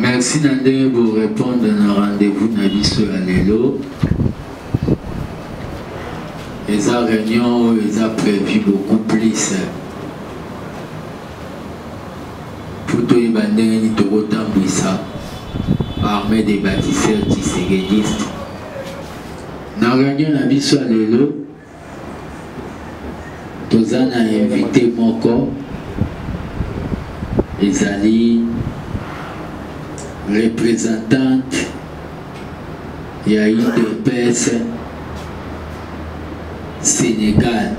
Merci na ndenge bo répondre na rendez-vous na biso ya lelo. Eza réunion oyo eza prévu beaucoup plus mpo toyeba ndenge nini tokotambwisa armée des bâtisseurs tshisekediste na réunion na biso ya lelo toza na invité moko ezali représentante ya udps sénégal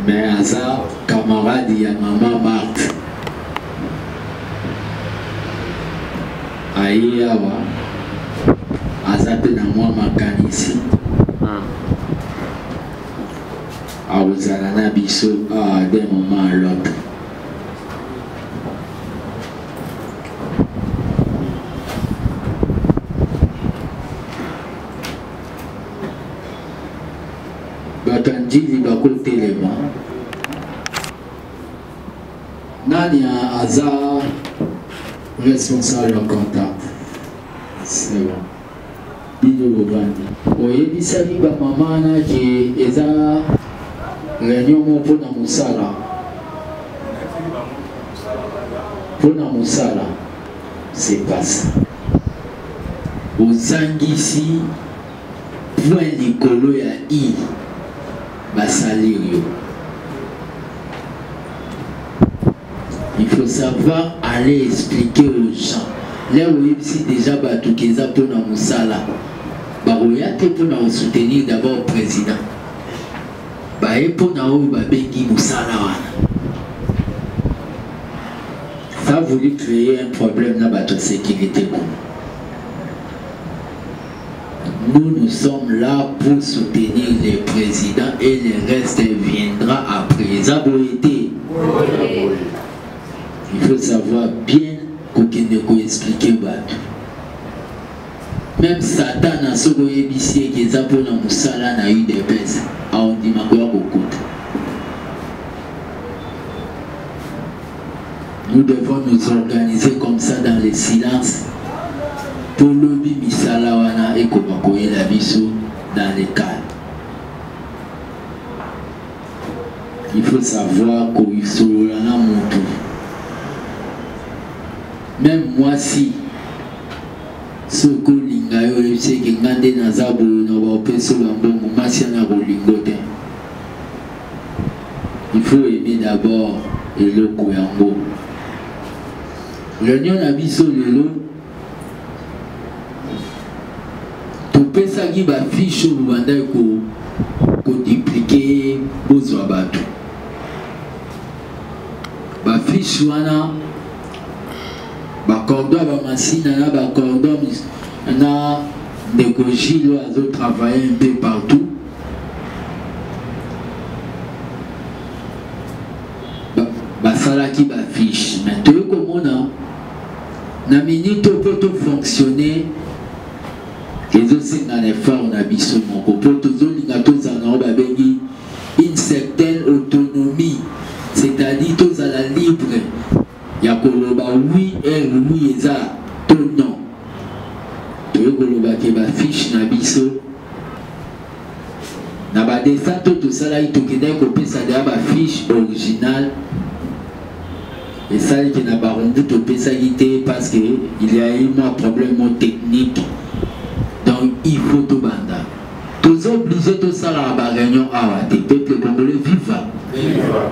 mais aza camarade ya mama marthe aye awa aza mpe na mwa makanisi hmm. akozala na biso awa de moment à l'autre bato ya njili bakotelema Nani aza responsable ya contact? C'est bon. Bido Lobandi. Oyebisaki ba mama na ke eza réunion moko mpo na mosala mpo na mosala c'est pas ça. Ozangisi point likolo ya i ba salir yo il faut savoir aller expliquer aux gens lelo oyebisi déjà bato keza mpo na mosala bakoya te mpo na kosoutenir d'abord président baye mpo na oyo babengi mosala wana ça voulu créer un problème na bato ya sécurité kuna Nous nous sommes là pour soutenir le président et le reste viendra après. Eza boye te. Il faut savoir bien kokende koexplike bato. Même Satana soki oyebisi eke eza mpo na mosala na udps aondima koya kokuta. Nous devons nous organiser comme ça dans le silence. Tolobi misala wana ekoma koyela biso dans le calme. Il faut savoir koyisolola na motu. Même moi si soki olinga yo oyebisi eke nga nde naza boye na baopesi ola mbongo mwasi ana kolingo te il faut aimer d'abord eloko yango réunion na biso lelo topesaki bafiche oyo bobandaki koduplike bozwa bato bafiche wana bacordo ya bamasina na bacordo na ndeko gilo azotravaille un peu partout basalaki bafiche me toyei komona na minute oyo mpo tofonctionne ezosenga na effort na biso moko mpo tozolinga tozala nango babengi une certaine autonomie c'est-à-dire tozala libre ya koloba oui eh, oui eza to non toye koloba ke bafiche na biso na badestin to tosalaki tokendaki kopesa deya bafiche originale esalaki na barumbu topesaki te parce que il y a eu mwa problème mo technique donc il faut tobanda toza oblige tosalaka baréunion awa te peuple congolais viva, viva.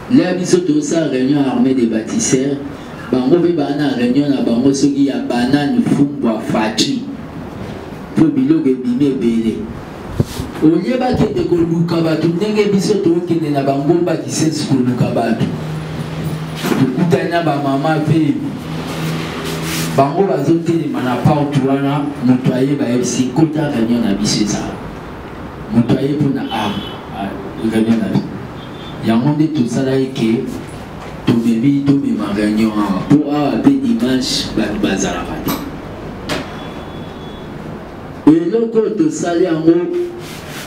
Là biso to sa réunion armée des bâtisseurs bango mpe baa na réunion na bango soki ya banani fumbwa faci mpo biloko ebimi ebele olie bakende koluka bato ndenge biso tokende na bangomba kisesi koluka bato tokutani na bamama mpe bango bazotelema na porte wana moto aye bayebisi kota réunion na biso ezala moto aye mpo na ar ah, ah, réunion na biso yango nde tosala eke tobebi tomema réunion awa mpo awa mpe dimanche bato bazalaka te eloko oyo tosali yango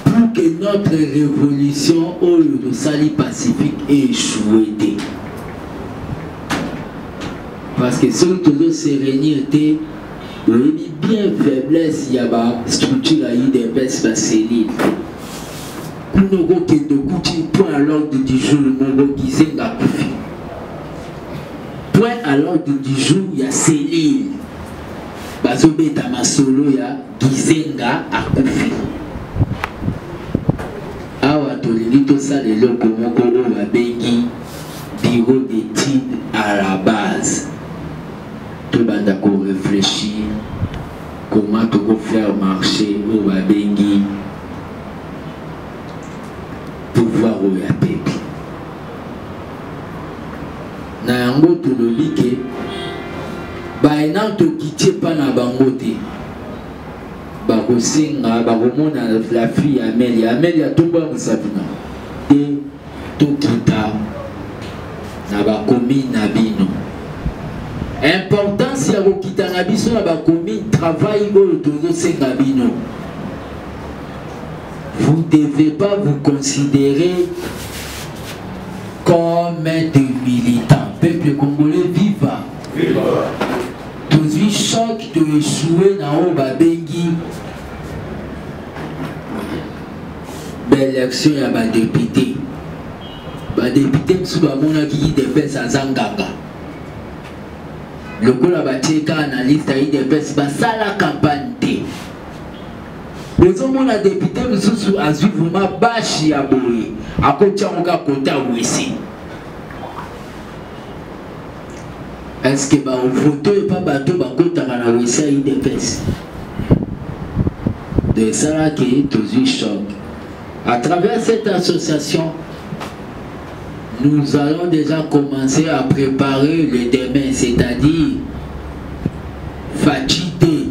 pour que notre révolution oyo tosali pacifique echoue te parce que soki tozo se réunir te oyebi bien faiblesse ya bastructure ya udps baselile kuna okokende okuti point à l'ordre du jour moko kizenga akufi point à l'ordre du jour ya cellule bazobeta masolo ya kizenga akufi awa tolingi tosala eloko moko oyo babengi bureau d'étude à la base tobanda koreflechir comment tokofaire marché oyo babengi pouvoir oyo ya pepe na yango tolobi ke baenant tokiti epa na bango te bakosenga bakomona la fille ya amelia amelia tombwamisa bino te tokita na bakomi na bino importance ya kokita na biso na bakomi travail oyo tozosenga bino vous ne devez pas vous considérer comme des militants. Peuple congolais, viva! Viva! tozwi choc to echoue na oyo babengi baélection ya badepute badepute mosusu bamonaki idps aza nganga lokola batie kaka na liste ya idps basala campagne te bozomona depute mosusu azwi vrema bashi ya boye akotiango ka kota wese eske bafoto epa bato bakotaka na wese ya udps de esala ke tozwi choc à travers cette association nous allons déjà commencer à préparer le demain c'est-à-dire fatigué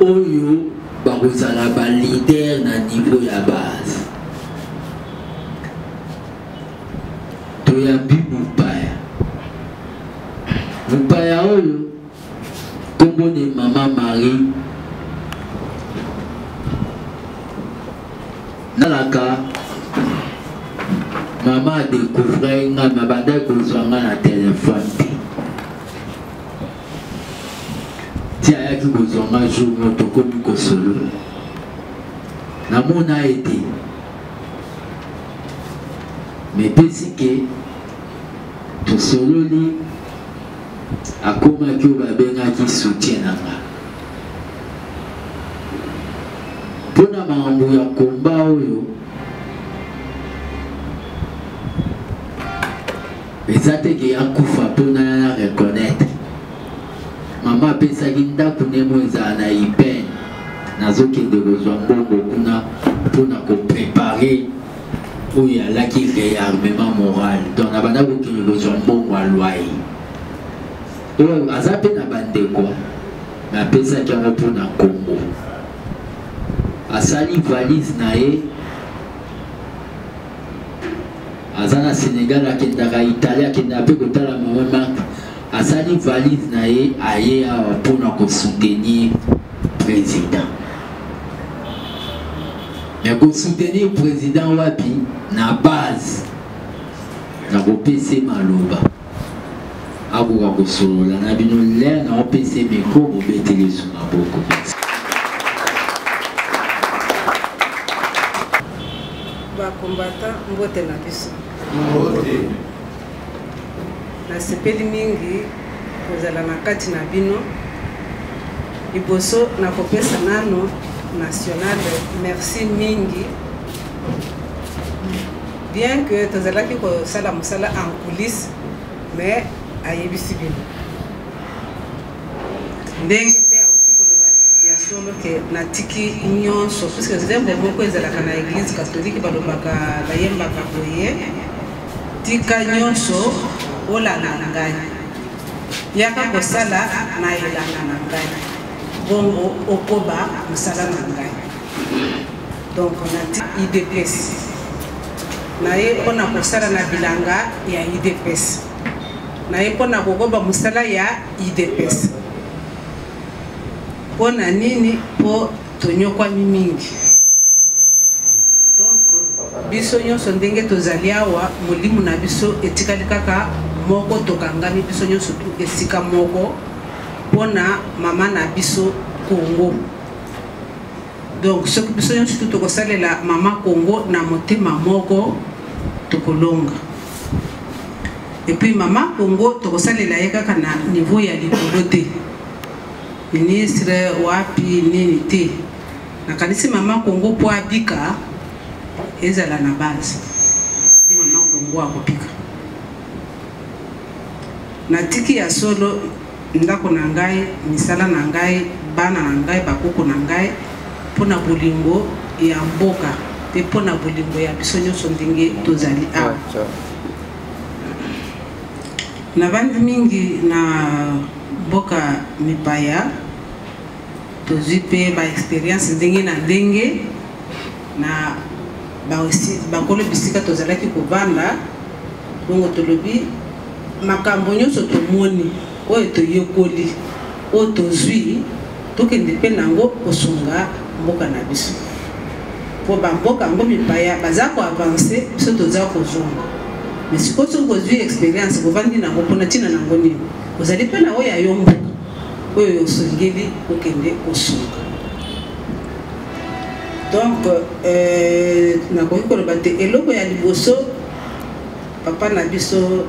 oyo bakozala ba leader na niveau ya base toyambi mopaya mopaya oyo kombone mama marie nalaka mama adecouvre nga mabandaki kozwa nga na telefone te ti ayaki kozwa nga jour moko tokomi kosolola namona ye te me epesi ke tosololi akomaki oyo babengaki soutien na nga mpo na makambo ya komba oyo eza te ke akufa mpo nga na reconnaitre mama apesaki ndako nemo ezala na ipene nazokende kozwa mbongo kuna mpo na koprepare oyo alaki réarmement moral donc na banda kokende kozwa mbongo alwai oyo aza mpe na bandeko napesaki yango mpo na kongo asali valise na ye aza na Sénégal akendaka Italie akendaka mpe kotala mama Marc asali valise na ye aye awa mpona kosoutenir président me kosoutenir président wapi na base na kopese maloba akoka kosolola na bino lere na opesa miko mobeteli esu na boko bakombata mbote na biso nasepeli mingi kozala na kati na bino liboso na kopesa nano nationale merci mingi Bien que tozalaki kosala mosala en coulisse mais ayebisi bino ndenge mpe auti koloba ya solo ke natiki nyonso puisque zembo moko ezalaka na église catholique balobaka bayembaka boye tika nyonso olanda na ngai yaka kosala na elanga na ngai bongo okoba mosala na ngai donc na idps naye mpo na kosala na bilanga ya idps naye mpo na kokoba mosala ya idps mpo na nini mpo tonyokwami mingi donc biso nyonso ndenge tozali awa molimo na biso etikali kaka moko tokangami biso nyonso tu esika moko mpo na mama na biso kongo donc soki biso nyonso tu tokosalela mama kongo na motema moko tokolonga epuis mama kongo tokosalela ye kaka na niveau ya likolo te ministre wapi nini te nakanisi mama kongo mpo abika ezala na base ndi mama kongo akobika natiki ya solo ndako na ngai, misala na ngai, bana na ngai, bakoko na ngai, mpo na bolingo ya mboka mpe mpo na bolingo ya biso nyonso ndenge tozali awa. Nabandi mingi na mboka mipaya, tozwi mpe ba experience ndenge na ndenge. na bakolo bisika tozalaki kobanda bongo tolobi makambo nyonso tomoni oyo toyekoli oyo tozwi tokende mpe nango kosunga mboka na biso mpo bamboka yango mipaya baza koavanse biso toza kozonga me sikoyo soki kozwi experience kovandi nango mpona ntina nango nini ozali mpe na oyo ya yo mboka oyo osengeli kokende kosunga donc euh, nakoki koloba te eloko ya liboso papa na biso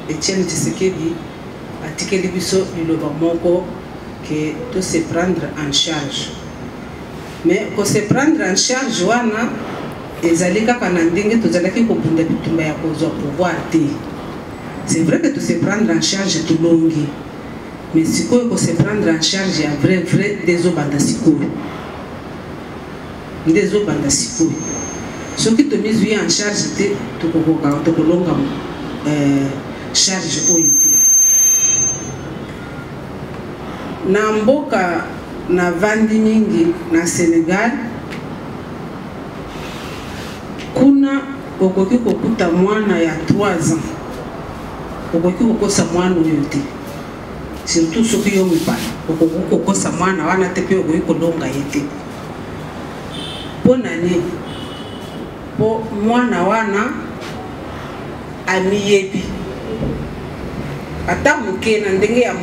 etienne tshisekedi atikeli biso liloba moko ke to se prendre en charge mais ko se prendre en charge wana ezali kaka na ndenge tozalaki kobunda bitumba ya kozwa pouvoir te c'est vrai que to se prendre en charge tolongi mais sikoyo ko se prendre en charge ya vrai vrai nde ezobanda sikoyo nde ezobanda sikoyo soki tomizwi en charge te tokokoka tokolonga euh, charge oyo te na mboka navandi mingi na senegal kuna Okoki kokuta mwana ya 3 ans, okoki kokosa mwana oyo te, surtout soki yo mobali okoki kokosa mwana wana te, mpe okoki kolonga ye te. Mpo na nini? Mpo mwana wana amiyebi ata moke na ndenge ya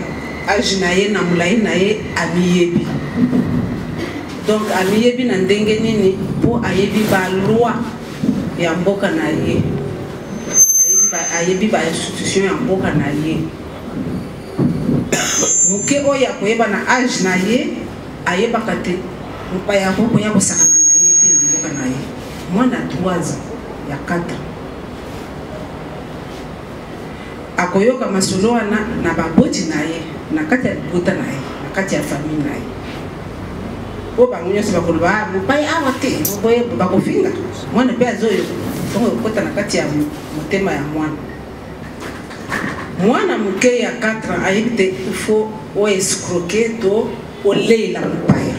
age na ye na molai na ye amiyebi donc amiyebi na ndenge nini mpo ayebi baloi ya mboka na ye ayebi ba institution ya mboka na ye moke oyo akoyeba na age na ye ayebaka te mopaya yango koya kosakana na ye te na mboka na ye mwana 3 ya 4 akoyoka masolo wana na baboti na ye na kati ya libota na ye na kati ya famille na ye po bango nyonso bakoloba ah, mopai awa te boye bakofinga mwana mpe azoyoka ntongo ekokota na kati ya motema ya mwana mwana moke ya 4 ans ayebi te ifo oescroke to oleela mopaya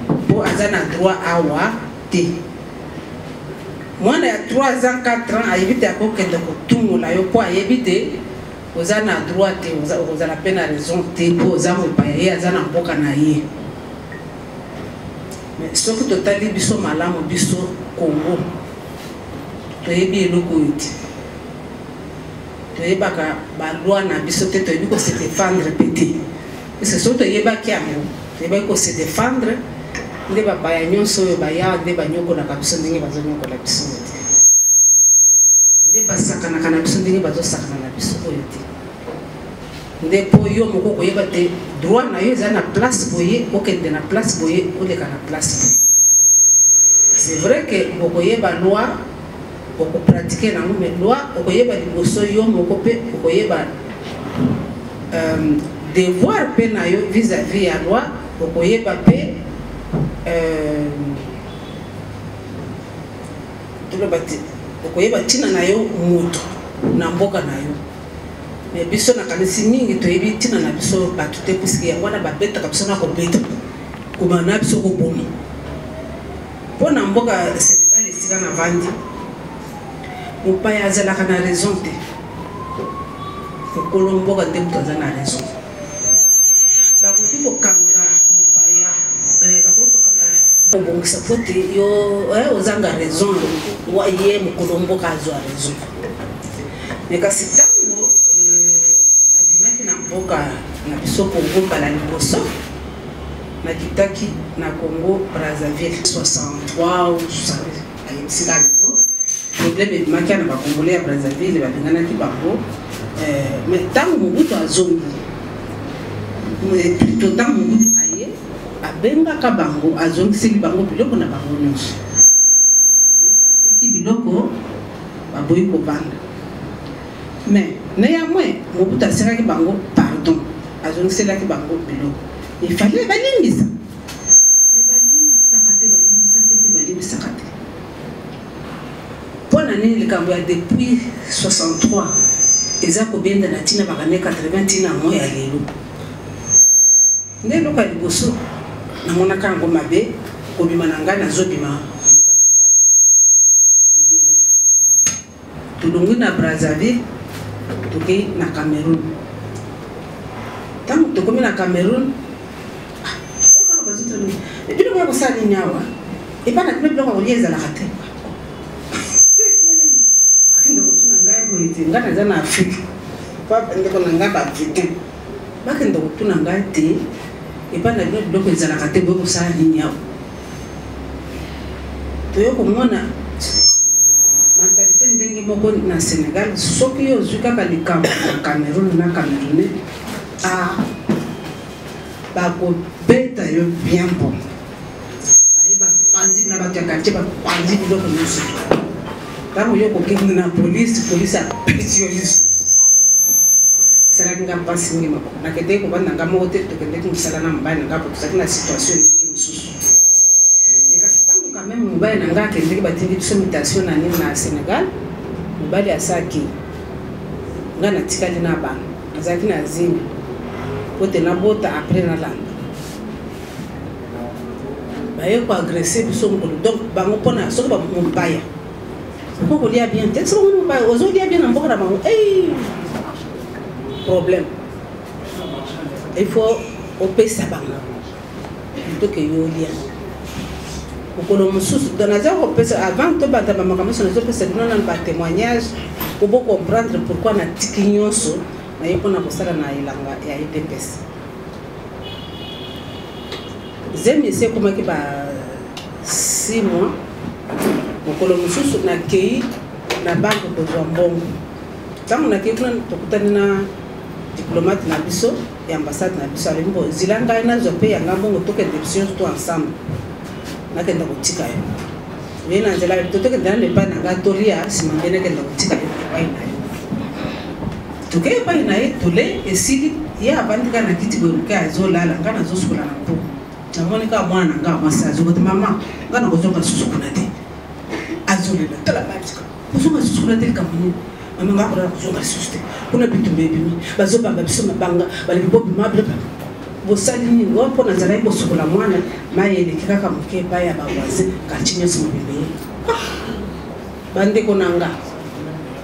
mpo aza na droit awa te mwana ya 3 ans 4 ans ayebi te akokende kotungola yo mpo ayebi te oza na droit te okozala mpe na raison te mpo oza mopaya ye aza na mboka na ye soki totali biso malamu biso kongo toyebi eloko oyo te toyebaka balwa na biso te toyebi ko se défendre mpe te parce que soki toyebaki yango toyebaki ko se défendre nde bapaya nyonso oyo bayaa nde banyokolaka biso ndenge bazonyokola biso oyo te nde basakanaka na biso ndenge bazosakana na biso oyo te nde mpo yo moko koyeba te droit na yo eza na place boye okende na place boye oleka na place boye c'est vrai que bokoyeba loi oko pratique na mais loi okoyeba liboso yo moko pe okoyeba euh, devoir pe na yo vis-à-vis ya loi okoyeba pe euh, toloba okoyeba ntina na yo moto na mboka na yo mais biso nakanisi mingi toyebi ntina na biso bato te puiske yango wana babetaka biso na kobeta kobana biso koboma Mpo na mboka Senegal esika na vandi, mopaya azalaka na raison te. Mokolo mboka nde moto aza na raison. Bakoki kokanga mopaya, eh, bakoki kokanga kobongisa mpo te yo eh, ozanga raison, ye mokolo mboka azwa raison. Me kasi ntango eh, nabimaki na mboka na biso Kongo mbala liboso Nakitaki na Congo Brazzaville 63 ayebisika lelo problème ebimaki na bacongolais ya Brazzaville babenganaki bango eh, mais ntango mobutu azongi plutôt eh, ntango mobutu aye abengaka bango azongiseli bango biloko na bango nyonso eh, bateki biloko baboyi kobanda mais néanmoins mobutu asekaki bango pardon azongiselaki bango biloko Il fallait balimbisa. Mais balimbisaka te, balimbisa te mpe balimbisaka te. Mpo na nini likambo ya depuis 63 eza kobenda na ntina bakane 80 ntina yango ya lelo? Nde eloko ya liboso namonaka yango mabe kobima na ngai nazobima Tolongwi na Brazzaville, tokei na Cameroun. Ntango tokomi na Cameroun, bino boya kosala nini awa? Epai na bino biloko ya kolia ezalaka te. Bakende kotuna ngai boye te, ngai naza na Afrika, ndeko na ngai bavitin bakende kotuna ngai te, epai na bino biloko ezalaka te, boye kosala nini awa? toye komona mentalite ndenge moko na sénégal soki yo ozwi kaka likambo na cameroun na camerounais a bakobeta yo bien bon baye bapanzi na bato ya kartier bapanzi biloko nyonso Tango yo kokende na police, police apesi yo lisu. Esalaki nga mpasi mingi moko. Nakendeki kovanda nga moko te, tokendeki mosala na mobali na nga po tozalaki na situation ndenge mosusu. Kasi ntango quand même mobali na nga akendeki batindi biso mutation na nini na Senegal, mobali asaki nga natikali na bana, nazalaki na zemi po te nabota après nalanda baye ko agresser biso mokolo donc bango mpona soki bamopaya mpo kolia bien te soki omoni mopaya ozolia bien na mboka na bango ei problème il faut opesa bango toke yo olia mokolo mosusu don aza kopesa avant tobanda bamakambo nyonso nazopesa bino nano batémoignage po bocomprendre pourquoi natiki nyonso naye mpona kosala na elanga ya edps zemi esi ekomaki ba 6 mois mokolo mosusu nakei na banke kozwa mbongo ntango nakei kuna tokutani na diplomate na biso ya ambassade na biso alobi mbo zila ngai nazwa mpe yanga mbongo tokende biso nyonso to ensemble nakenda kotika yo oye na nzela to tokenda nano epai na ngai tolia nsima nde nakenda kotika yo epai na yo Tokei epai na ye, tolei, esili, ye avandi kaka na kiti boye moke, azolala, ngai nazosukola na mpo. Namoni kaka mwana na ngai mwasi azokoti, mama, ngai nakozonga lisusu kuna te. Azolela, tala matika, kozonga lisusu kuna te likambo nini? Mama, ngai akolala kozonga lisusu te. Kuna bitumba ebimi, bazobamba biso mabanga, balebi bobima biloko bosali nini ngo mpo nazalaki kosukola mwana mai eleki kaka moke epai ya bavoisin kartie nyonso mobimbe ye bandeko na nga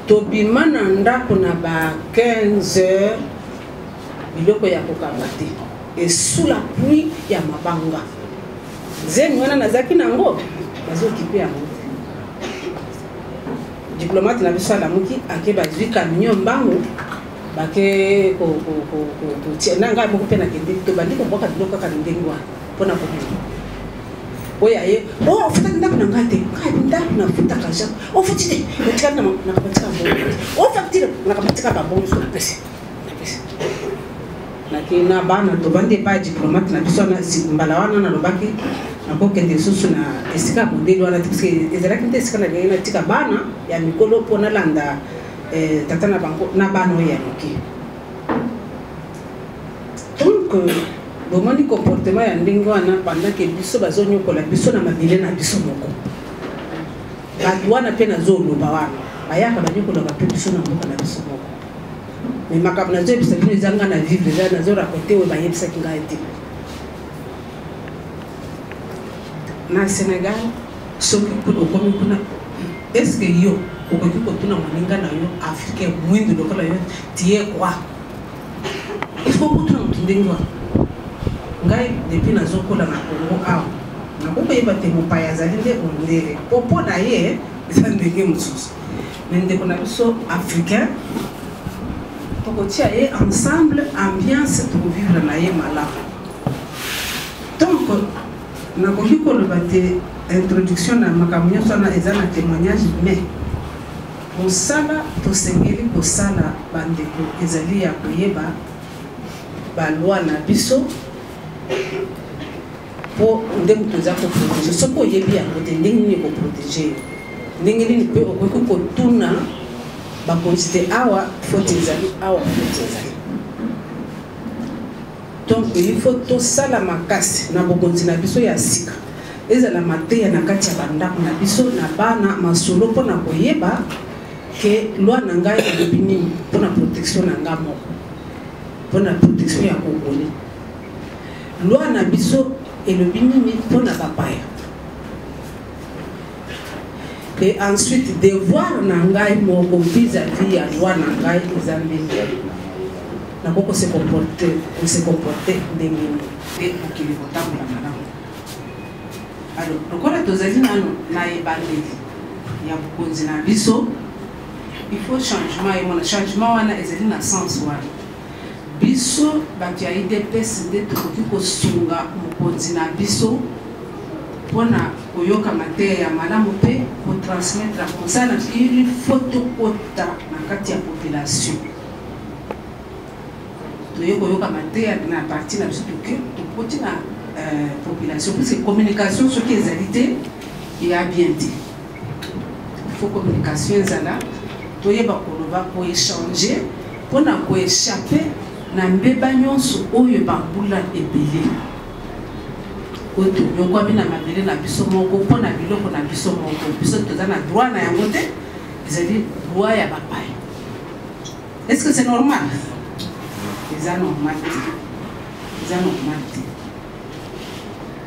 tobima na ndako na ba 15 heures biloko ya kokanga te esula pluie ya mabanga zemi wana nazalaki na yango bazokipe yango diplomate na biso alamuki ake bazwi camion mbangu bake kotia na ngai moko mpe nakende tobandi kobwaka biloko kaka ndenge wana mpo na kobima oyo aye o oh, ofutaki ndako na ngai te ngai ndako nafutaka ja ofuti oh, te otikali nakapatika ofactire oh, nakapatika babonso napesi napesi nake na bana tobandi epai ya diplomate na biso mbala wana nalobaki nakokende lisusu na esika modeli wana te parceke ezalaki nde esika nalingi natika bana ya mikolo mpo nalanda eh, tata na bango na bana oyo ya moke donc euh, bomoni comportement ya ndenge wana pendant ke biso bazonyokola biso na mabele na biso moko bato wana mpe nazoloba wana bayaka banyokolaka mpe biso na mboka na biso moko mais makambo nazoyebisa bino eza ngai na vivre eza nazorakote oyo bayebisaki ngai te na sénégal soki okomi kuna estce yo okoki kotuna moninga na yo africain mwindu lokola yo tie roi il faut kutuna moto ndenge wana ngai depuis nazokola na kongo awa nakoki koyeba te mopaya azali nde ondele mpo mpo na ye eza ndenge mosusu me ndeko na biso africain tokotia ye ensemble ambiance tokovivre na ye malamu donc nakoki koloba te introduction na makambo nyonso wana eza na témoignage mais Mosala tosengeli kosala, bandeko, ezali ya koyeba ba lois na biso mpo nde moto eza koprotege. Soki oyebi yango te, ndenge nini ekoprotege yo? Ndenge nini mpe okoki kotuna bakonzi te awa foti ezali, awa foti ezali? Donc il faut tosala makasi na bokonzi na biso ya sika ezala mateya na kati ya bandako na biso na bana masolo mpo na koyeba ke loi na ngai elobi nini mpo na protection na ngai moko mpo na protection ya kokoli loi na biso elobi nini mpo na bapaya et ensuite devoir na ngai moko vis-à-vis ya loi na ngai eza ndenge nako kose comporte kose comporte ndenge nini te mokili kotambola malamu alors lokola tozali nano na ebandeli ya bokonzi na biso il faut changement emona changement wana ezali na sens wana Biso batu ya udps nde tokoki kosunga mokonzi na biso pona koyoka mateya ya malamu pe ko transmettre ya kosala il faut tokota na kati ya population toye koyoka mateya na parti na biso toke tokoti na euh, population puisque communication soki ezali te eya bien te faut communication ezala toyeba koloba koechange mpo na koechape na mbeba nyonso oyo bambula ebele oyo tonyokwami na mabele na biso moko mpo na biloko na biso moko biso toza na droit na yango te ezali droit ya bapaya est ce que c'est normal eza normal te eza normal te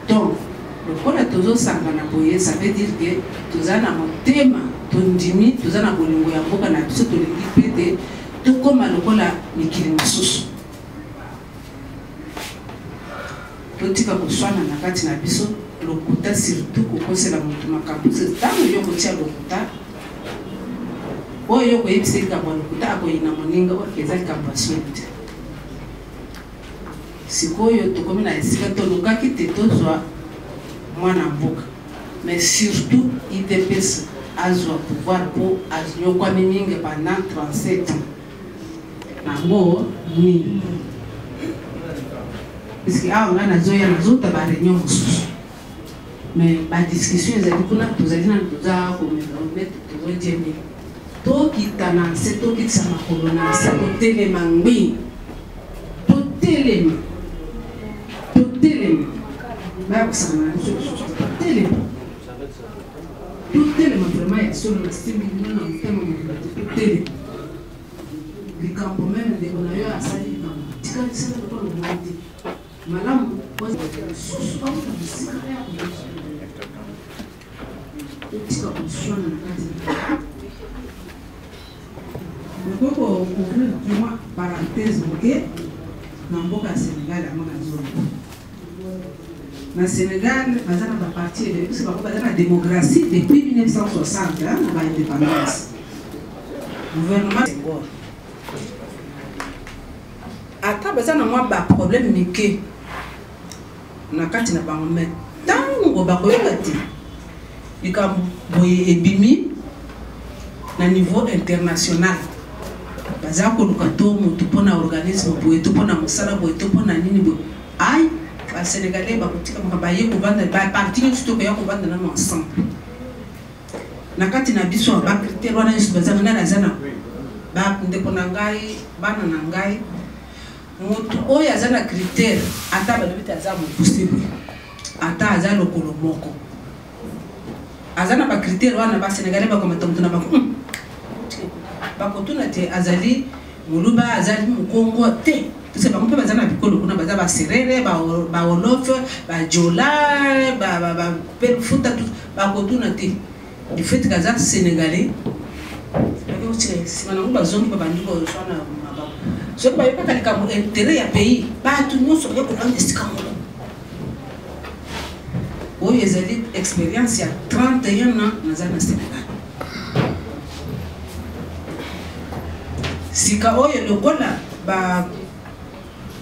donc lokola tozosangana boye ça veut dire que toza na motema tondimi toza na bolingo ya mboka na biso tolingi mpe te tokóma lokola mikili mosusu totika koswana na kati na biso lokuta surtout kokosela moto makambo ntango yo kotia lokuta oyo yo koyebisa likambo ya lokuta akoyina moninga oyo eza likambo ya soni te Sikoyo tokomi na esika tolukaki te tozwa mwana mboka mais surtout udps azwa pouvoir po anyokwami mingi pendant 37 ans nango nini puisque awa ngai nazoya nazota ba reunion mosusu mais ba discussion ezali kuna tozali nanu toza komekomete tozojembe tokita na nse tokitisa makolo na nse totelema ngbi totelema totelema bayakosana na biso lisusu totelema totelema vraimen ya solo nasimbi bino na motema mobila te totelema likambo meme ndeko na yo asali likambo tikalisaka lokola obongo te Malamu kozala lisusu bauta mosika mpe ya koyoki otika koswana na kati nakoki kocouvrir mwa parenthèse moke na mboka ya sénégal yango na zolo na sénégal baza na baparti ebele biso bango baza na démocratie depuis 1960 na baindépendance gouvernement ata baza na mwa baproblème mike na kati na bango mai ntango bakoyeba te likambo boye ebimi na niveau international baza koluka to motu mpo na organisme boye to mpo na mosala boye to mpo na nini boye ai basenegalais bakotika makambo baye kovanda baparti nyonso to koya kovanda nano ensemble na kati na biso ba critère wana nyonso bazanga nani aza na bandeko na ngai bana na ngai motu oyo aza na critère ata balobi te aza mokuse boye ata aza lokolo moko aza na bacritère wana basenegalais bakomata motu na bango hmm. bakotuna te azali Muluba azali mukongo te. Parce bango mpe baza na bikolo kuna baza baserere bawolof bajola bapelufuta bakotuna te du fait que aza sénégalais nsima nango bazongi babandi kozwa na mabaku soki bayokaka likambo intérêt ya pays bato nyonso baye kolanda esika moko oyo ezali expérience ya 31 ans naza na sénégal sika oyo lokola ba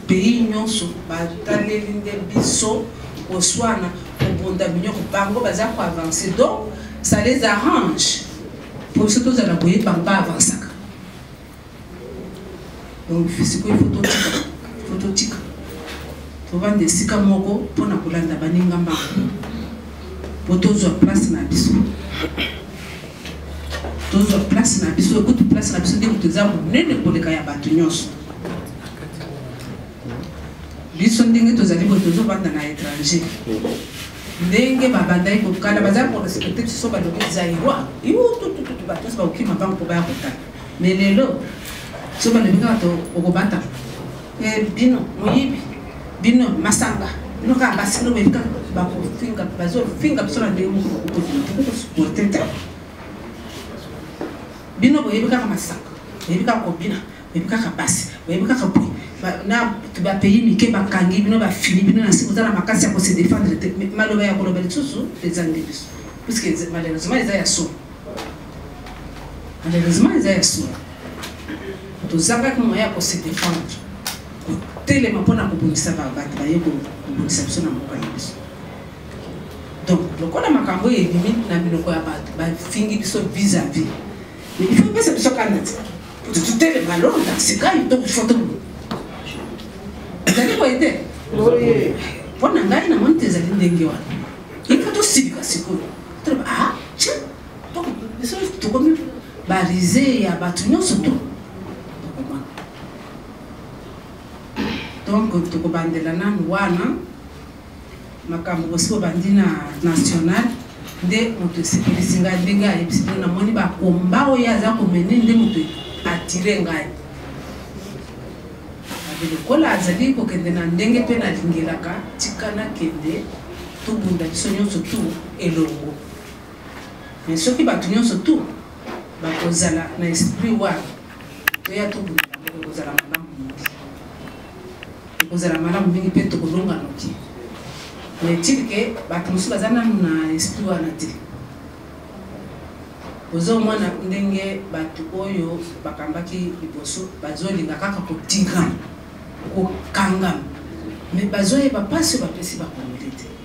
pays nyonso bataleli nde biso koswana kobunda minyoko bango baza koavanse donc ça les arrange mpo biso tozala koyeba ngo baavansaka donc sikoyo ifo totika ifo totika tovanda esika moko mpo na kolanda baninga mbango mpo tozwa place na biso tozwa place na biso ekuti place na biso nde moto eza monene koleka ya bato nyonso biso ndenge tozali boye tozobanda na étranger ndenge babandaki kokala baza korespecte biso balobi zairois iututututu bato nyonso bakokima bango mpo baya kotala Mais lelo soki balobi kaka to okobata eh, bino moyibi bino masanga bino kaka basi bino boyebi kaka bakofinga bazofinga biso na ndenge moko tokokosuporte te bino boyebi kaka masanga boyebi kaka kobina boyebi kaka basi boyebi kaka boye na bapays mike bakangi bino bafini bino na se boza na makasi ya kose défendre te maloba ya koloba lisusu eza nde biso puiske malheureusement eza ya solo Malheureusement, eza ya solo. Tozangaki moyen ya ko se défendre. Kotelema mpo na kobundisa bato baye kobundisa biso na mboka na biso. Donc, lokola makambo oyo ebimi na minoko ya bato bafingi biso vis-à-vis. Mais il faut pesa biso kanda te. Kutu totelema londa sikayo to foto mo. Ezali boye te? Boye. Mpo na ngai namoni te ezali ndenge wana. Il faut tosilika sikoyo. Toloba ah Donc, biso tokomi barise ya bato nyonso to donc tokobandela nanu wana makambo osi obandi na national nde moto esepelisi ngai ndenge ayebisi bino namoni bakomba oyo aza komene nde moto atire ngai lokola azali kokende na ndenge mpe nalingelaka tika nakende tobunda biso nyonso tu elongo mais soki bato nyonso tu bakozala na esprit wana toya tobunda ekozala malamu mingi ekozala malamu mingi mpe tokolonga noki mais tirke bato mosusu baza nanu na esprit wana te ozomona ndenge bato oyo bakambaki liboso bazolinga kaka kotinga kokangama mais bazoyeba mpasi bapesi bakongoli te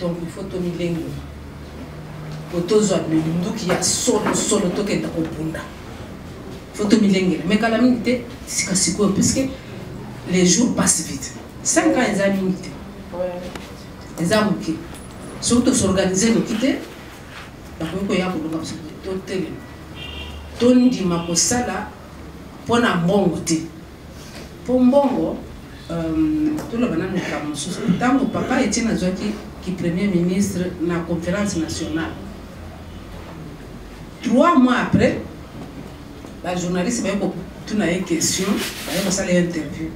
donc il faut tomilengola po tozwa minduki ya solosolo tokenda kobunda fo tomilengela me kala mingi te sika sikoyo puisque les jours passe vite 5 ans eza mingi te eza moke soki tosorganize noki te bakoki koya kolonga biso totelema tondima kosala mpo na mbongo te mpo mbongo euh, toloba na moka mosusu ntango papa etiene azwaki ki premier ministre na conférence nationale trois mois après bajournaliste baye kotuna ye question baye kosala ye interview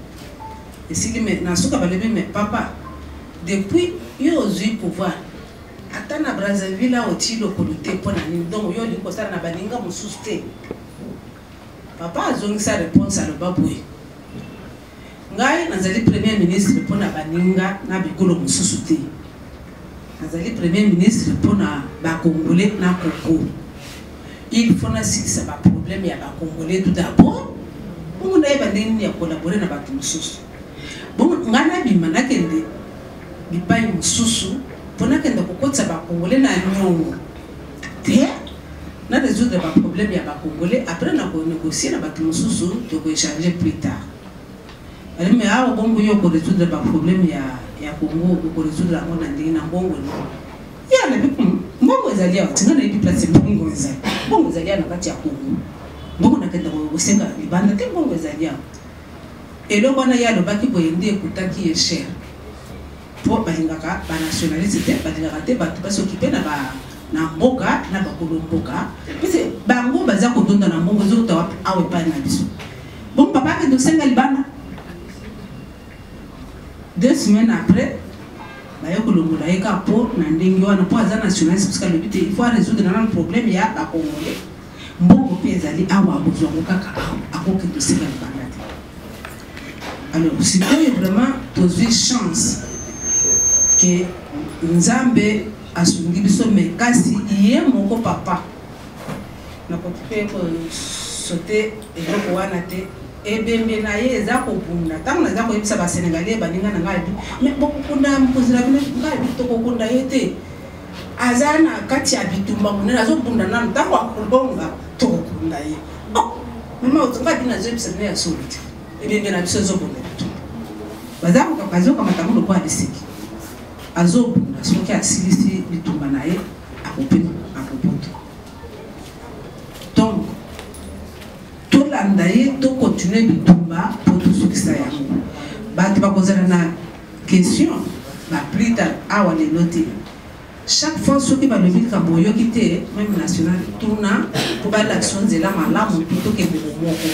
esili me na suka balobi me papa depuis yo ozwi pouvoir ata na brazzaville aotii lokolo te mpo na nini donc yo olingi kosala na baninga mosusu te Papa azongisa reponse aloba boye, Ngai nazali Premier ministre mpo na baninga na bikolo mosusu te, nazali Premier ministre mpo na ba Congolais na Congo. Il faut nasilisa ba problèmes ya ba Congolais tout d'abord, bongo nayeba ndenge nini ya collaborer na bato mosusu. Bongo ngai nabima nakende bipai mosusu mpo nakende kokotisa ba Congolais na nyongo. te na résoudre ba problème ya ba congolais après na ko négocier na bato mosusu to ko échanger plus tard ali mais awa bongo yo ko résoudre ba problème ya ya Congo ko résoudre yango na ndenge na bongo no ya na bi hmm, mbongo ezali awa tinga na yebi place mbongo ezali mbongo ezali awa na kati ya Congo mbongo na kenda ko senga libanda te mbongo ezali awa eloko wana ye alobaki boye nde ekutaki ye cher po balingaka ba nationaliste te balingaka te bato ba s'occuper na ba na mboka na bakolo mboka pese bango baza kotonda na mbongo ezokota wapi awa epai na biso bon papa akende kosenga libanda deux semaines après baye kolongola ye kaka mpo na ndenge wana mpo aza nationaliste parce que alobi te il faut aresoudre nana problème ya bakongole mbongo mpe ezali awa akozwango kaka awa akokende osenga libanda alors sikoyo vraiment tozwi chance ke nzambe asungi biso me kasi ye moko papa nakoki mpe kosote eloko wana te ebembe na ye eza kobunda ntango naza koyebisa basenegalais baninga na ngai abi me bokokunda mokonzi na bino ngai abi tokokunda ye te aza na kati ya bitumba monene azobunda nano ntango akolonga tokokunda ye oh, mama otonga bino azoyebisa bino ya solo te ebembe na biso ezobunda bitumba baza kokaka azokamata ngo lokola liseki azobunda soki asilisi bitumba na ye akopema akobuta donc tolanda ye tokontinue bitumba mpo tosukisa yango bato bakozala na Question ba plus tard awa lelo te chaque fois soki balobi likambo oyoki te meme national tuna po balakisa yo nzela malamu po tokende bomoko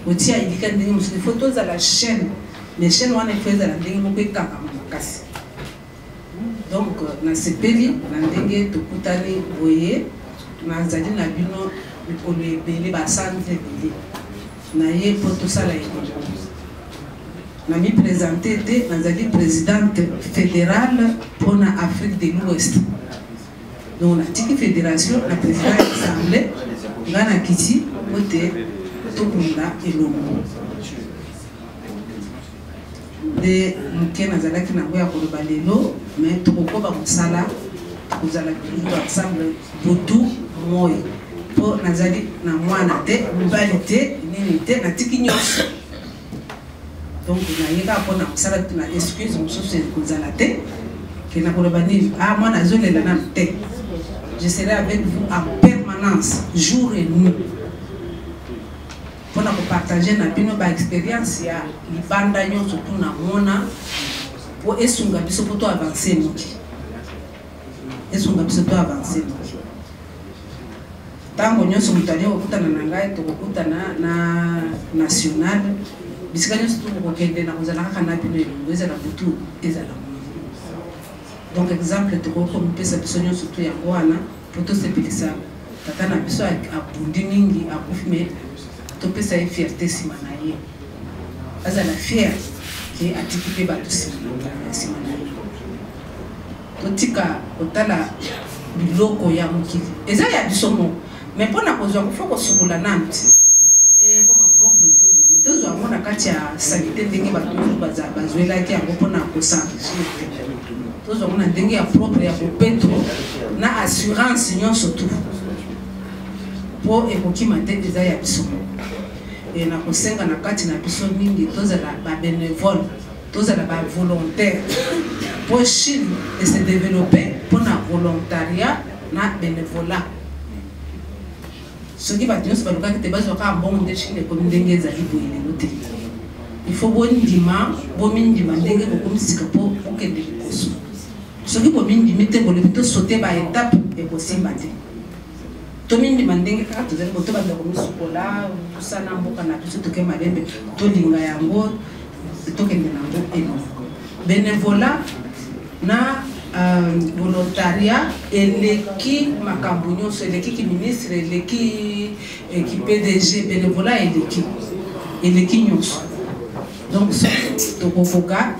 otia elika ndenge mosusu faut tozala chaîne mais chaîne wana faut ezala ndenge moko ekangama makasi donc nasepeli na ndenge tokutani boye nazali na bino mikolo ebele basanza ebele na ye mpo tosala elongo. Namipresente ete nazali presidente federale mpo na Afrique de l'Ouest. Donc natiki federation na president ya assemblée ngai nakiti mpo te tobunda elongo. nde moke nazalaki nango ya koloba lelo me tokokoba mosala kozala moto ensemble butu moi mpo nazali na mwana te mobali te nini te natiki nyonso donc nayeka mpo na mosala na excuse mosusu ekozala te ke nakoloba nini a ah, mwana azolela nanu te je serai avec vous en permanence jour et nuit pona ko partager na bino ba experience ya libanda nyonso tuna mona po esunga biso po to avancer noki esunga biso to avancer noki ntango nyonso moto alie kokutana na ngai tokokutana na national bisika nyonso tokokokende na kozala kaka na bino elongo ezala butu ezala donc exemple tokoki komipesa biso nyonso to yango wana mpo tosepelisa tata na biso abundi mingi akufi me topesa ye fierte nsima na ye azala fiere ke atiki mpe bato nsima na ye totika kotala biloko ya mokili eza ya biso moko me mpo na kozwa kofo kosukola nanu ekoma eh, propre tozwa yango na kati ya salite ndenge bato bazwelaki yango mpo na kosange tozwa ngo na ndenge ya propre ya bopeto na assurance nyonso tu mpo ekokima te eza ya biso e nakosenga na kati na biso mingi tozala babenevole tozala bavolontaire mpo chine ese developpe mpo na volontariat na benevolat soki bato nyonso balukaki te bazwa kaka mbongo nde chine ekomi ndenge ezali boye lelo te ifo bondima bomindima ndenge bokomi sika mpo bokende liboso soki bomindimi te bolingi tosote baetape ekosimba te tomindima ndenge kaka tozali bo tobanda komisukola tosana mboka na biso toke malembe tolinga yango tokende na yango eno benevola na euh, volontaria eleki makambo nyonso eleki kiministre eleki eh, ki pdg benevola eleki eleki nyonso donc soki tokokoka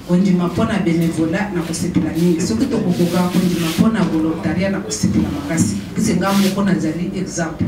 kondima mpo na benevola na kosepela mingi soki tokokoka kondima mpo na volontaria na kosepela makasi pese ngai moko nazali exemple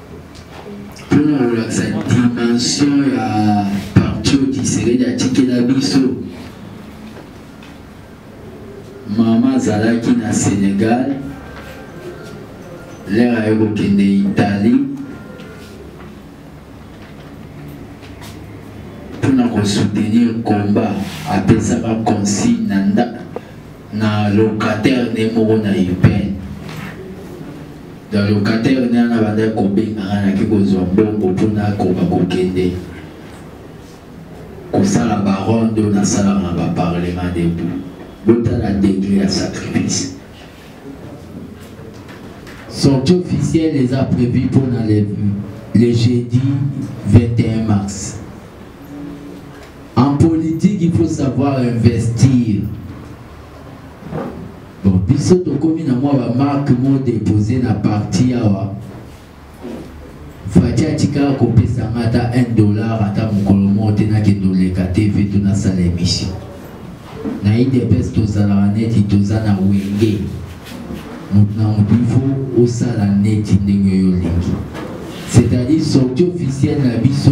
mpona kolakisa dimension ya partio kisekedi atikela biso mama azalaki na sénégal lere aye kokende italie mpona kosoutenir combat apesaka consigne na ndako na locataire ne moko na upn na locataire ne ana bandaki kobengaka naki kozwa mbongo mpo nakoka kokende kosala baronde oyo nasalaka na baparlement debout botala degre ya sacrifice sortie officielle eza prévu mpo na le jeudi 21 mars En politique, il faut savoir investir. Bon, biso tokomi na mwa ba marque mo déposé na parti awa. Fati atika kopesa nga ata 1 dollar ata mokolo moko te nakende oleka TV to nasala émission. Na IDPS tozalaka neti toza na wenge. Moto na moto il faut osala neti ndenge yo olingi. C'est-à-dire sortie officielle na biso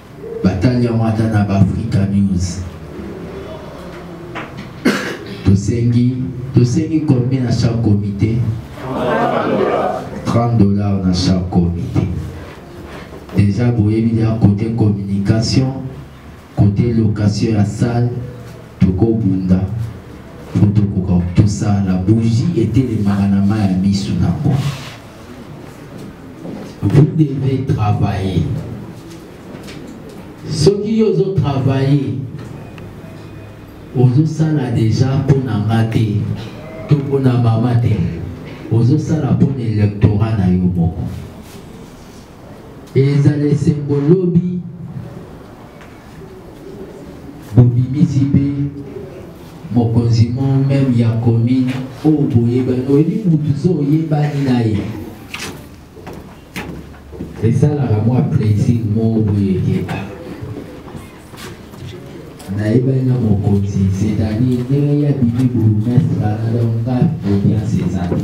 batali yango ata na baafrika news tosengi tosengi combien na chaque comité 30 dollars na chaque comité déjà boyebi ya côté communication côté location ya salle tokobunda mpo tokoka tosala bougie etelemaka na mai ya miso na yango vous devez travailler soki yo ozotravaille ozosala deja mpo na nga te to mpo na mama te ozosala mpo na electorat na yo moko ezala esengo lobi bobimisi mpe mokonzi mo meme ya commune oyo boyebani oyebi motu so oyebani na ye esalaka mwa plaisir moko boye ekeba nayebani na mokonzi c'est-à-dire ndenge ya bimi bourgmestre wana donc nga audience eza te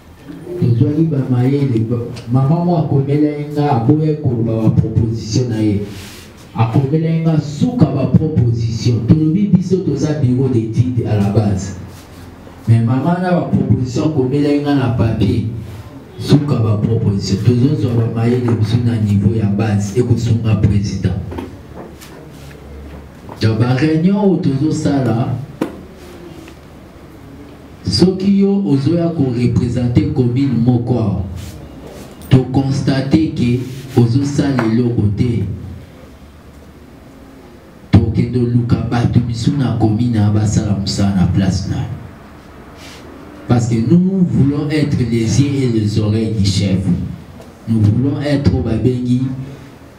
tozwaki bamayele mama mo akomelaki nga aboyaki koloba baproposition na ye akomelaki nga suka baproposition tolobi biso toza bureau d'étude à la base mais mama na baproposition akomelaki nga na papier suka baproposition tozozwa bamayele biso na niveau ya base ekosunga président donc baréunion oyo tozosala soki yo ozoya korepresente commune moko awa tokonstate ke ozosala eloko te tokende oluka bato misu na commune a basala mosala na place na parce que nous voulons être les yeux et les oreilles du chef nous voulons être oyo babengi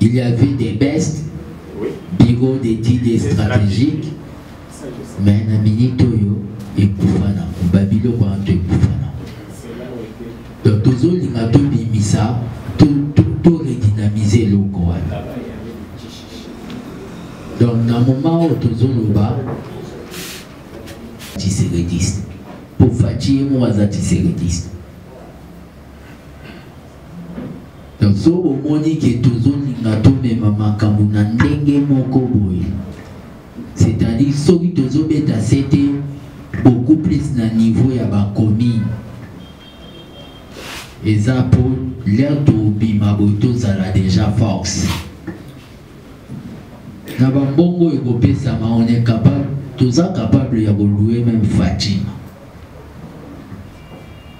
Il y avait des best, oui. bureau d'études et stratégiques, mais na minute oyo ekufa na babiloko wana to ekufa na donc tozolinga tobimisa toredynamize eloko wana donc na moma oyo tozoloba tiserediste po faci ye moko aza tiserediste donc so omoni ke tozolinga tomema makambo na ndenge moko boye c'est-à-dire soki tozobeta se te beaucoup plus na niveau ya bacommune eza mpo lere tobima boye tozala déjà force na bambongo oyo ekopesama on est capable toza capable ya kolue meme fatima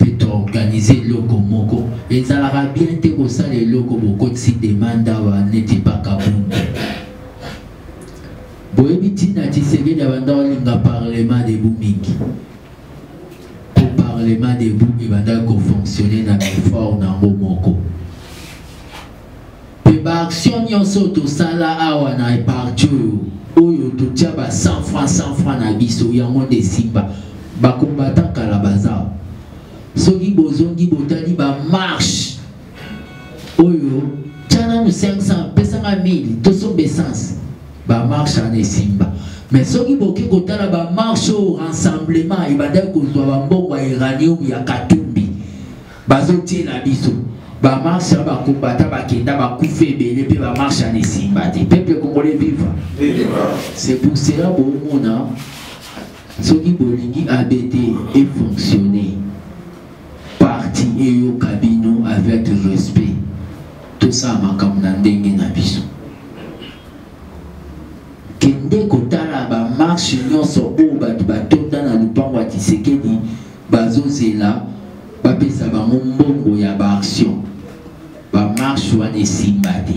mpe toorganize eloko moko ezalaka bien te kosala eloko bokotisi demande awa neti mpaka bunde boyebi ntina tshisekedi abanda olinga parlement debu mingi mpo parlement debu ebandaki kofonctionne na effort na yango moko Pe ba action nyonso tosala awa na parti oyo oyo totia ba 100 francs 100 francs na biso yango nde esimba bakombatan kala baza soki bozongi botali ba marche oyo tya nanu 500 pesanga 1000 tosomba essence ba marche wana esimba mais soki boki kotala ba marche oyo rassemblement ebandaki kozwa bambongo ya uranium ya katumbi bazotiela biso bamarshe ya bakombata bakenda bakufa ebele mpe bamarshe ana esimba te peuple congolais viva c'est pour cela bomona soki bolingi abt efonctionne parti eyoka bino avec respect tosala makambo na ndenge na biso kende kotala bamarshe nyonso oyo bato batonda na lopango ya tisekedi bazozela bapesa bango mbongo ya baaction bamarshe wana esimba te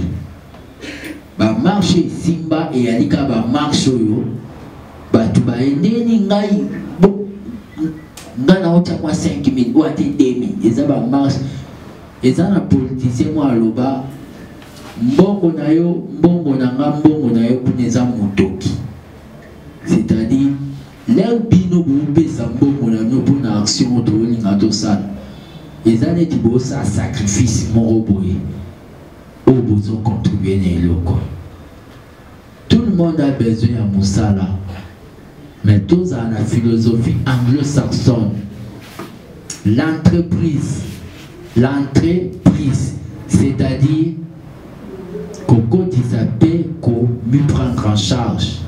bamarshe esimba eyali kaka bamarshe oyo bato bayendeni ngai ngai naotya mwa 5000 oyo ate 2000 eza bamarshe eza na politisien mwa aloba mbongo na yo mbongo na nga mbongo na yo kuna eza motoki c'est-à-dire Lelo bino bopesa mbongo na bino mpo na action oyo tolinga tosala eza neti bosala sacrifice moko boye oyo bozocontribue na eloko tout le monde a besoin ya mosala mais tozala na philosophie anglo-saxonne l'entreprise l'entreprise c'est-à-dire kokotisa mpe komiprendre en charge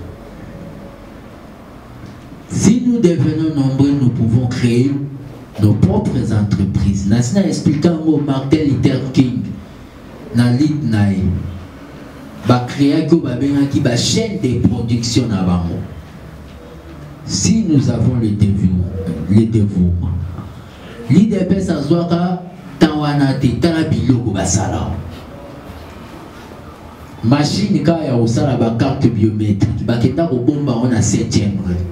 Si nous devenons nombreux, nous pouvons créer nos propres entreprises. Nasi na expliquer yango Martin Luther King na lit na ye bakreaki oyo babengaki bachaîne de production na bango si nous avons le dévouement, le dévouement. l'idps azwaka ntan wana te tala biloko basala mashine kaka ya kosala bacarte biométrique bakenda kobomba yango na 7e grade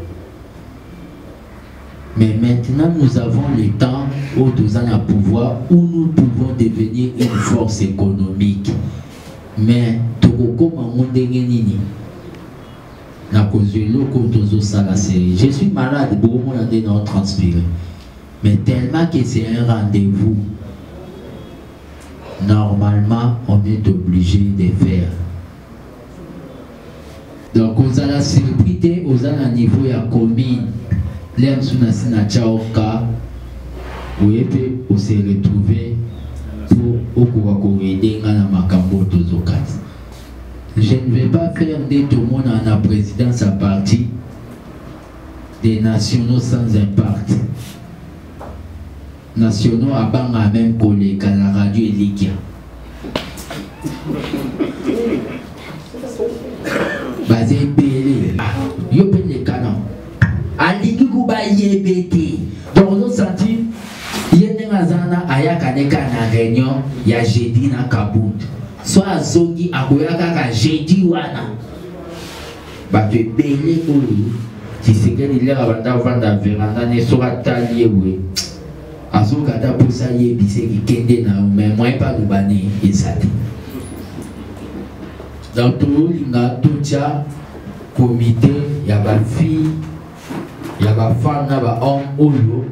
mais maintenant nous avons le temps oyo toza na pouvoir où nous pouvons devenir une force économique mais tokokoma yango ndenge nini nakozwa eloko tozosala serie je suis malade bokomona nde nao transpire mais tellement que c'est un rendez-vous normalement on est obligé de faire donc ozala surpris te oza na niveau ya commune lea mosusu nasi na chaoka oye mpe ose retrouve mpo okoka koaide nga na makambo oyo tozokati je ne vais pas faire nde tomona na présidence ya parti des nationaux sans impact nationaux abanga meme koleka na radio elikia baza ebele ah, yo mpe lekana alingi kuba yebe te donc ozosanti ye ndenge aza na ayaka neka na réunion ya jeudi na kabund so azongi akoya kaka jeudi wana bato ebele oyo tshisekedi lera banda vanda veranda ne soki atali ye boye azoka ata mposa ayebisa ekikende na yo mai moye mpe aloba ne eza te donc tolinga totya komite ya bafille ya bafemme na bahomme oyo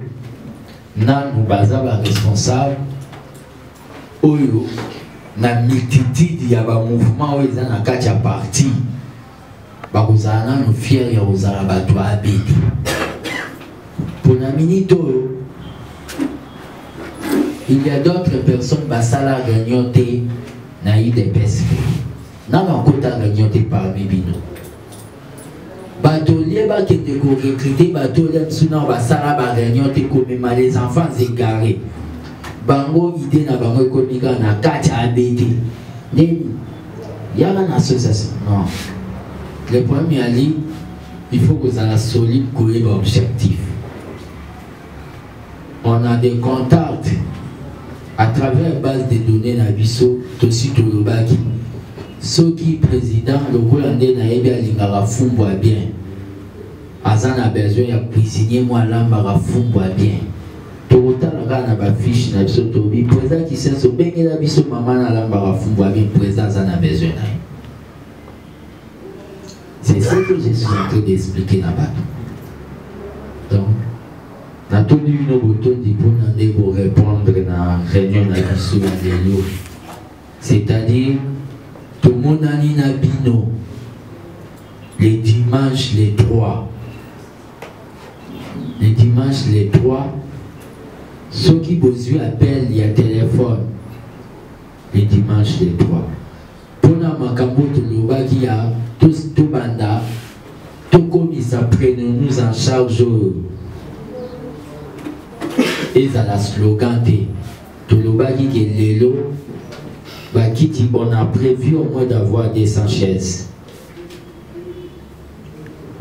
nanu baza baresponsable oyo na multitude ya ba mouvement oyo eza na kati ya parti bakozala nano fiere ya kozala bato ya abd mpo na minite oyo il y a d'autres personnes basala réunion te na udps na bakota réunion te parmi bino bato olie bakende korekrite bato olie biso nao basala bareunion te komema les enfants egare bango ide na bango ekomi kaka na kati ya abete nini yaka na association non le problème ya ligne il faut kozala solide koyeba objectif on a des contacts à travers base de données na biso tosi tolobaki soki président lokola nde nayebi alingaka fumbwa bien aza na besoin ya cuisinier mwa alambaka fumbwa bien tokotala kaka na bafiche na biso tobi président kisenso bengela biso mama na alambaka fumbwa bien président aza na besoin na ye C'est ce que je suis en train d'expliquer na bato. Donc, natuni bino botondi mpona nde korépondre na réunion na biso ya lelo c'est-à-dire tomonani na bino le dimanche le 3 le dimanche le 3 soki bozwi appel ya telefone le dimanche le 3 mpona makambo oyo tolobaki ya tobanda tokomisa prenons nous en charge oyo ezala slogan te tolobaki ke lelo bakiti on a prévu au moins d'avoir 200 chaises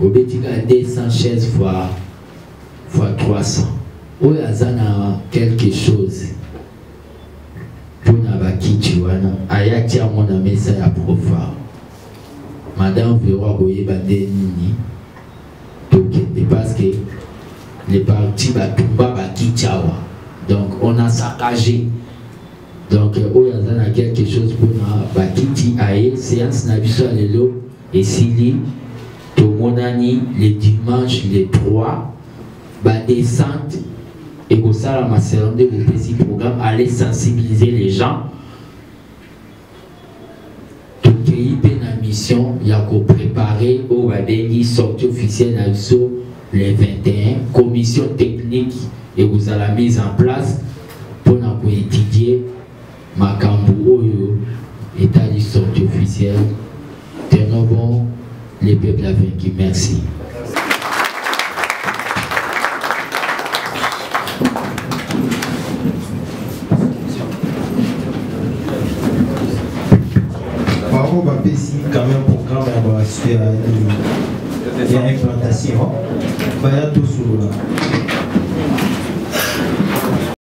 obeti kaka 200 chaises fois fois 300 oyo aza na quelque chose mpona bakiti wana ayati yango na mesa ya profar madame vero akoyeba nde nini tokende parce que les partis batumba bakiti awa donc on a saccagé donc oyo aza na quelque chose mpona bakiti aye séance na biso ya lelo Esili tomonani le dimanche le 3 ba descente ekosalama selon nde bopesi programme aller sensibiliser les gens tokei mpe na mission ya koprepare oyo babengi sortie officielle na biso le 21 commission technique ekozala mise en place mpo na koétudie makambo oyo etali sortie officielle tenons bon le peuple a vaincu merci bango bapesi quand même programme ya basuki ya ya implantation baya tosolola